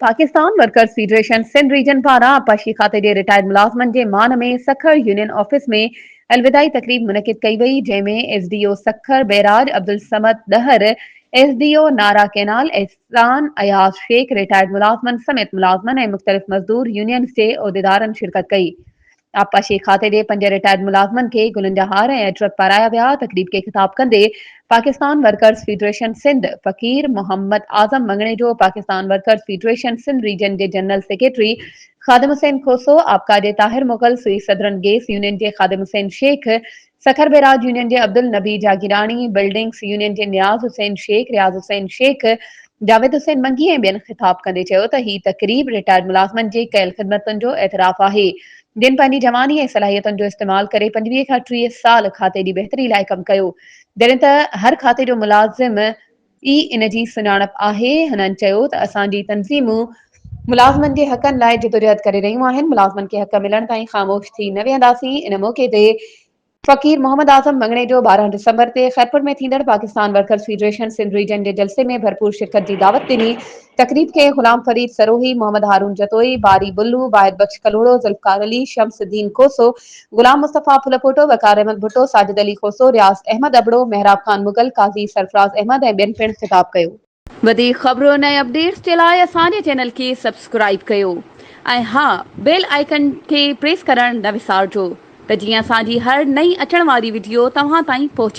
Pakistan workers federation Sindh region پاران آبپاشي کاتي جي رٽائرڊ ملازمن جي مان ۾ سکر يونين آفيس ۾ الوداعي تقريب منعقد ڪئي وئي جنهن ۾ S D O Sukkur barrage Abdul Samad Dahar, S D O Nara canal احسان اياز شيخ، رٽائرڊ ملازمن سميت ملازمن ۽ مختلف مزدور يونينز جي عهديدارن شرڪت ڪئي. آبپاشي کاتي ڏي پنج رٽائرڊ ملازمن کي گلن جا هار ۽ عطرت پارايا ويا، تقريب کي خطاب ڪندي Pakistan workers federation Sindh Faqir Muhammad Azam Mangnejo, Pakistan workers federation Sindh region جي جنرل سيڪريٽري خادم حسين کوسو، آبکاجي Tahir Mughal, Sui southern gas union جي خادم حسين شيخ، سکر بئراج يونين جي عبدالنبي جاگيراڻي، بلڊنگس يونين جي نياز حسين شيخ، رياض حسين شيخ، جاويد حسين منگي ۽ ٻين خطاب ڪندي چيو ته هي تقريب رٽائرڊ ملازمن جي ڪيل خدمتن جو اعتراف آهي جن پنهنجي جواني ۽ صلاحيتن جو استعمال ڪري پنجويهه کان ٽيهه سال کاتي جي بهتري لاء ڪم ڪيو جڏهن ته هر کاتي جو ملازم ئي ان جي سڃاڻپ آهي. هنن چيو ته اسان جي تنظيمون ملازمن جي حقن لاء جدوجهد ڪري رهيون آهن، ملازمن کي حق ملڻ تائين خاموش ٿي نه ويهنداسين. ان موقعي تي فقير محمد اعظم مڱڻيجو ٻارهن ڊسمبر تي خيرپور ۾ ٿيندڙ Pakistan workers federation Sindh region جي جلسي ۾ ڀرپور شرڪت جي دعوت ڏني. تقريب کي غلام فريد سروهي، محمد هارون جتوئي، باري بلو، واحد بخش ڪلهوڙو، ذوالفقار علي، شمس الدين کوسو، غلام مصطفيٰ ڦلپوٽو، وقار احمد ڀٽو، ساجد علي کوسو، رياض احمد ابڙو، محراب خان مغل، قاضي سرفراز احمد ۽ ٻين پڻ خطاب ڪيو. وڌيڪ خبرن ۽ اپڊيٽس جي لاء اسان جي چينل کي سبسڪرائيب ڪيو ۽ ها بيل آئيڪن کي پريس ڪرڻ نه وسارجو ته جيئن اسان جي هر نئين اچڻ واري وڊيو توهان تائين پهچي.